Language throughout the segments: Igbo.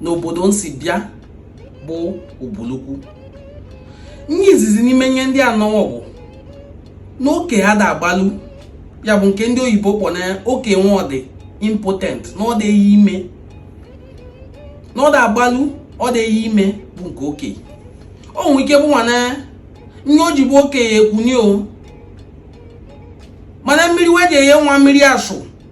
na obodo m si bịa bụ Ubulukwu nye izizi n'ime nye ndị anọwọ bụ n'oke ha da agbalụ ya bụ nke ndị oyibo kpọ na oke nwa ọ dị impotent na ọ dị eyi ime na ọ da agbalụ ọ dị eyi ime bụ nke oke o nwere ike bụ nwana nye o ji bụ oke ekwuni o mana mmiri we ji eyi nwa mmiri asụ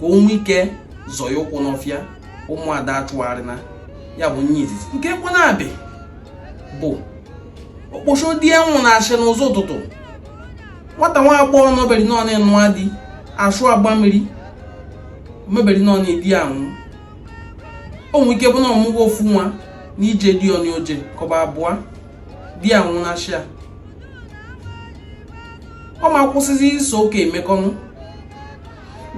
ka o nwee ike zọọ ya ụkwụ n'ọfịa ụmụada achụgharịna ya bụ nye izizi nke kwanabị bụ okposho di ya nwụnashị n'ụzọ ụtụtụ nwata nwa agbọghọ nọberi nọọnụ nụa di ashụ agba mmiri o meberi nọọnụ di ya nwụ o nwee ike bụ na ọ mụgwo ofu nwa na ije di ọnụ o je kọba abụọ di ya nwụnashịa ọ ma kwụsịzi iso oke emekọnụ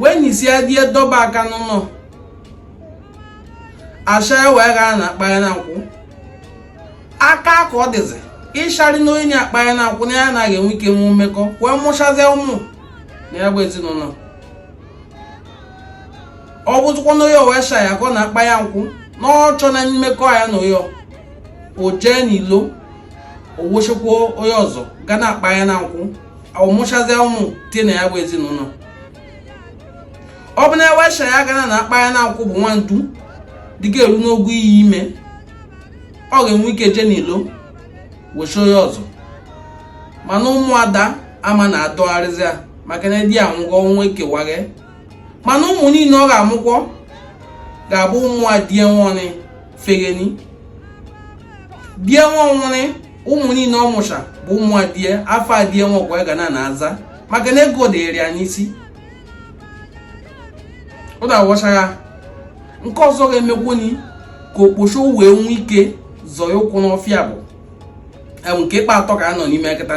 wee nisie die dọba aka n'ụnọ asha wee ga na akpanya na nkwụ aka ka ọ dịzi ịchari na onye akpanya na nkwụ na ya anaghị enwe ike nwe mmekọ wee mụchazie ụmụ na ya bụ ezinụnọ ọ bụzikwa na onye o wesha ya ka ọ na akpanya nkwụ na ọ chọ na mmekọ ya na onye o jee n'ilo o wechikwa onye ọzọ ga na-akpa ya na nkwụ ọ mụchazie ụmụ tie na ya bụ ezinụnọ ọ bụ na ewesha ya ga na akpa ya na nkwụ bụ nwandu dịka eru n'ogo iyi ime ọ ga-enwe ike je n'ilo wechi onye ọzọ mana ụmụada ama na-adọgharịzi ya maka na di anwụgo ọnwa ekewaghe mana ụmụ niile ọ ga-amụkwọ ga-abụ ụmụ adie nwanị fereni die nwa nwụrị ụmụ niile ọ mụcha bụ ụmụ adie afa adie nwa ka wa ga na aza maka na ego dịrị ya n'isi ọ na-awọcha ya nke ọzọ ga-emekwuni ka okposho wee nwee ike zọọ ụkwụ n'ọfịa bụ nke ịkpa atọ ka a nọ n'ime kịta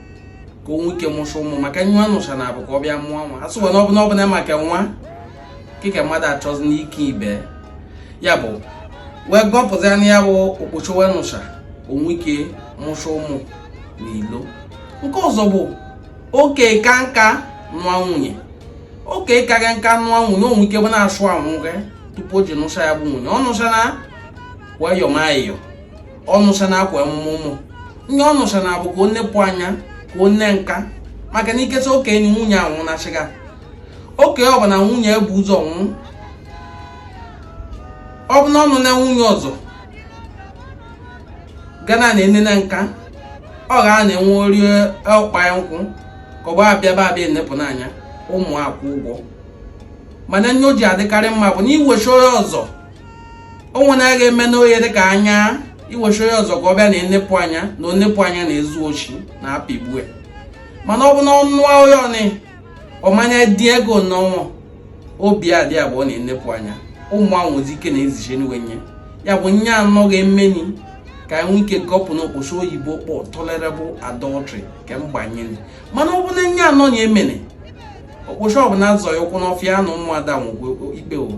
ka o nwee ike mụcha ụmụ maka we anụcha na abụ ka ọ bịa mụọ nwa a sịwa na ọ bụna maka nwa kịka mmadụ achọzi n'ike ibe ya bụ wee gọpụta na ya bụ okposho wee nụcha o nwee ike mụcha ụmụ na ilo nke ọzọ bụ oke ka nka nụa nwunye oke ka nka nụa nwunye o nwe ike bụ na ashụ anwụ gị tupu o ji nụcha ya bụ nwunye ọ nụcha na wayọmayọ ọ nụcha na akwa emume ụmụ nye ọ nụcha na abụ ka o nepụ anya ka o nee nka maka na iketa okenye nwunye anwụnashịga oke ọ bụ na nwunye bụ ụzọ nwụ ọ bụ na ọ nụna nwunye ọzọ ga na enene nka ọ ga na eweri ọkpa ya nkwụ ka ọ bụ abịaba abịa enepụ n'anya ụmụ akwụ ụgwọ mana nye o ji adịkarị mma bụ na iwechi onye ọzọ o nwere a ga-eme n'oye dị ka anya iwechi onye ọzọ ka ọ bịa na enepụ anya na onepụ anya na-ezu oshi na apịgbue mana ọ bụ na ọnụ onye ọnị ọmanya dị ego n'ọnwa obi adị abụọ na enepụ anya ụmụ ahụ nwezi ike na-eziche n'iwe nye ya bụ nye anọ ga-emeni ka anyị nwee ike gọpụ n'okposho oyibo kpọ tolerable adultery nke mgbanyere mana ọ bụ na nye anọ na emene okposho ọbụla zọ ya ụkwụ n'ọfịa na ụmụada nwụgo ikpe ụwa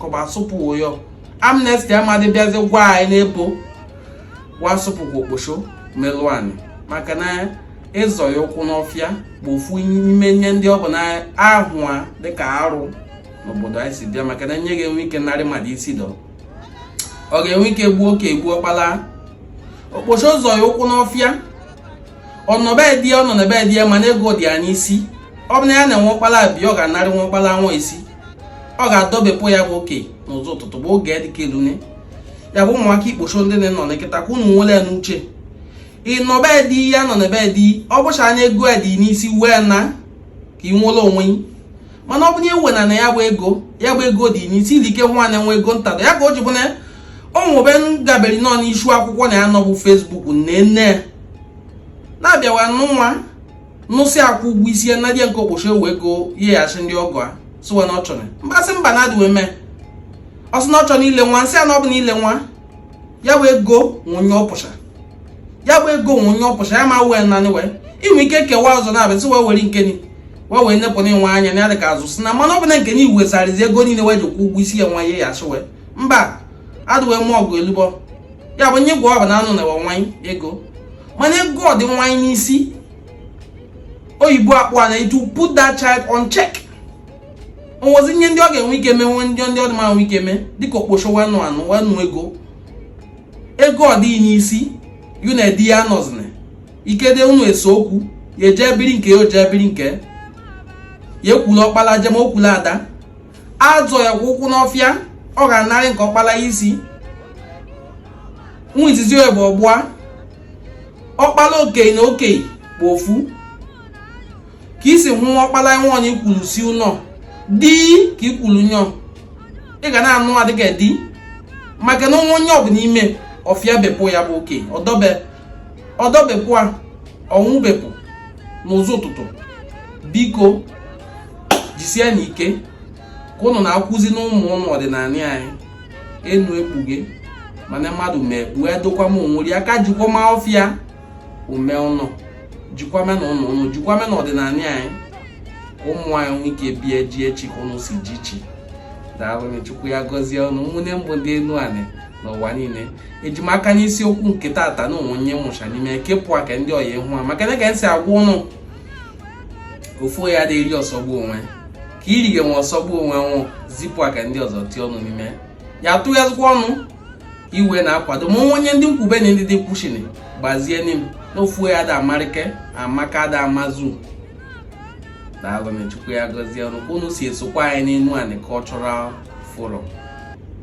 ka ọ bụ asụpụwo ya amnesty amadị bịazi gwa anyị n'ebo wa asụpụkwa okposho melụ anyị maka na ịzọ ya ụkwụ n'ọfịa bụ ofu n'ime nye ndị ọ bụ na ahụ a dịka arụ n'obodo anyị si bịa maka na nye ga-enwe ike narị mmadụ isi dọ ọ ga-enwe ike gbuo oke egbuo ọkpala okposho zọ ya ụkwụ n'ọfịa ọ nọ be di e ọ nọ be di e mana ego dị ya n'isi ọ bụ na ya na-enwe ọkpala bi ọ ga-anarị nwa ọkpala nwa isi ọ ga-adọbepụ ya bụ oke n'ụzọ ụtụtụ bụ oge dịka elune ya bụ ụmụaka ikposho ndị nọ na kịta ka unu nwere ya n'uche ị nọ be di ya nọ n'ebe di ọ bụcha anya ego ya dị n'isi wee na ka ị nwere onwe mana ọ bụnye wena na ya bụ ego ya bụ ego dị n'isi ili ike nwa na nwa ego ntada ya ka o ji bụ na o nwe ebe m gaberi nọ n'isu akwụkwọ na ya nọ bụ facebook nne nne na-abịawa n'ụwa nụsị akwụ ụgwọ isi ya na di a nke okposho wee ego nyeghachi ndị ọgọ a sịwa na ọ chọrọ mgbasị mba na adịwe mee ọ sị na ọ chọrọ ile nwa nsị a na ọ bụ na ile nwa ya wee ego nwunye ọpụcha ya bụ ego nwunye ọpụcha ya ma wee nanị wee inwe ike kewa ọzọ na-abịa sị wee were nke ni wee wee nepụ na ịnwe anya na ya dị ka azụ si na mana ọ bụ na nke na iwezarizi ego niile wee jikwa ụgwọ isi ya nwa ya ya achị wee mba adịwe mọgụ elubọ ya bụ nye gwọọ na anụ na nwanyị ego mana ego ọ dị nwanyị n'isi oyibo akpọ a na to put that child on check o nwezi nye ndị ọ ga-enwe ike mee nwe ndị ndị ọ dị ma nwe ike mee dịka okposho wa nụ anụ wa nụ ego ego ọ dịghị n'isi yu na di ya nọzina ikede unu ese okwu ya eje biri nke ya oje biri nke ya ekulu ọkpala je ma o kulu ada azọ ya kwa ụkwụ n'ọfịa ọ ga-anarị nke ọkpala isi nwa izizi ya bụ o gbua ọkpala okenye na okenye bụ ofu ka isi hụ ọkpala nwa onye i kulu si ụlọ di ka i kulu nyọ ị ga na-anụ a dịka di maka na onwe onye ọ bụ n'ime ọfịa bepụ ya bụ oke ọ dọbepụ a ọ nwụbepụ n'ụzọ ụtụtụ biko jisie nụ ike ka ụnụ na-akuzi n'ụmụ ụnụ ọdịnanị anyị enu ekpughe mana mmadụ ma ekpughe edokwa m onweri aka jikwama ọfịa o mee ụnọ jikwame nụ ụnọ ụnụ jikwame nụ ọdịnanị anyị ka ụmụ anyị nwee ike bie ji echi ka ụnụ si ji chi daalụ chukwu ya gọzie ụnụ ụmụnne m bụ ndị enuanị n'ụwa niile eji m aka n'isiokwu nke tata na o nwe onye mụcha n'ime kepụ aka ndị ọya ịhụ ha maka na ka esi agwa ụnụ ofu onye ada eri ọsọgbu onwe ka iri ga nwe ọsọgbu onwe nwụ zipụ aka ndị ọzọ tie ọnụ n'ime ya tụghazikwa ọnụ iwe na-akwado ma onye ndị nkwube na ndị dị kwuchiri gbazie ni m na ofu onye ada amarịke amaka ada amazu daalụ nụ chukwu ya gọzie ụnụ ka ụnụ si esokwa anyị n'enuanị cultural forum